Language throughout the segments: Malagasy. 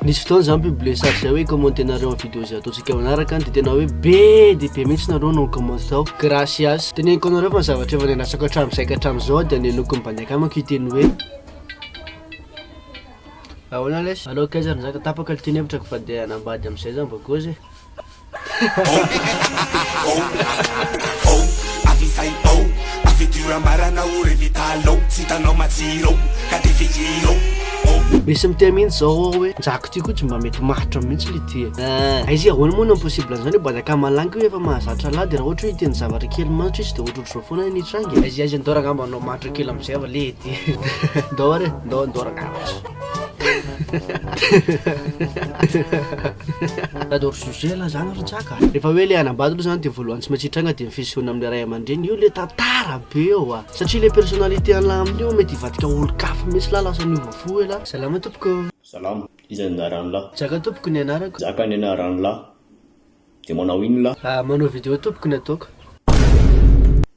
Nisy fotoana za mi-publier sary zay hoe commenter nareo amin'ny vidéo zay ataontsika manaraka an, de tena hoe be dia be mihitsy nareo no ni-commenter tao, gracias. Teneniko anareo fa ny zavatra efa niandrasako hatramin'izay ka hatramin'izao dia nihenoiko mibaliaka amiko io teny hoe Ahoana lesy? Aleo akaiza ary nizaka tapaka ny teny hevitrako fa dia hanambady amin'izay za mba gôzy e. Misy mitia mihitsy zao ao hoe njaky ty koa tsy mba mety matotra mihitsy le ty eh. Aizy ahoana moa no impossible an'izany hoe bada kamalangy io efa mahazatra lahy de raha ohatra hoe hiteny zavatra kely matotra izy de ohatra ohatr'izao foana ny hitranga e. Aizy aizy ndao rangamba anao matotra kely am'zay va le ty. Ndao re ndao ndao rangamba. J'adore sujet la zany ry Jaka a! Rehefa hoe le hanambady aloha zany de voalohany tsy maintsy hitranga de ny fisehoana amin'ny ray aman-dreny, io le tantara be eo a! Satria le personnalité an'lah amin'io an mety hivadika ho olon-kafa mihitsy lah lasa niova fo hoe lah! Salama tompoko. Salama, iza ny anaran'lah? Jaka tompoko ny anarako. Jaka ny anaran'lah. De manao inona lah? Ahh manao video tompoko ny ataoko.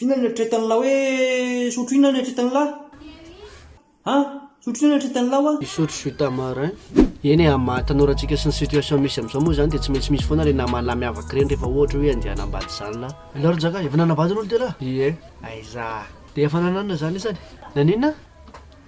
Inona no eritreretan'lah hoe sotro inona no eritreretan'lah a? Sotro inona no eritreretan'lah wa? Hisotro jus tamarin. Eny e, amin'ny maha tanora antsika sy ny situation misy amin'izao moa izany dia tsy maintsy misy foana ireny naman'lah miavaka ireny rehefa ohatra hoe andeha hanambady izany lah. Ianao ry Njaka, efa nanambady aloha dia lah? Ie. Aiza. Dia efa nananana izany isany. Naninona?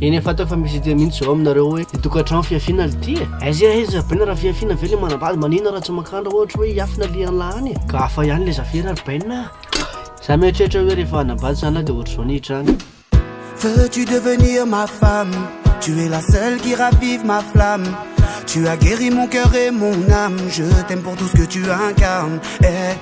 Eny efa teo fa misy idée mintsy zao aminareo hoe ny tokantrano fihafiana le ty e! Aiza e aiza baina raha fihafiana ve le manambady maninona raha tsy mankandra ohatra hoe hiafina alehan'ny la any e! Ka hafa ihany le zafira ry baina a! Za mieritreritra hoe rehefa hanambady za na de ohatra zao ny hiditra any. Veux tu devenir ma femme Tu es la seule qui ravive ma flamme Tu as guéri mon cœur et mon âme Je t'aime pour tout ce que tu incarnes eh.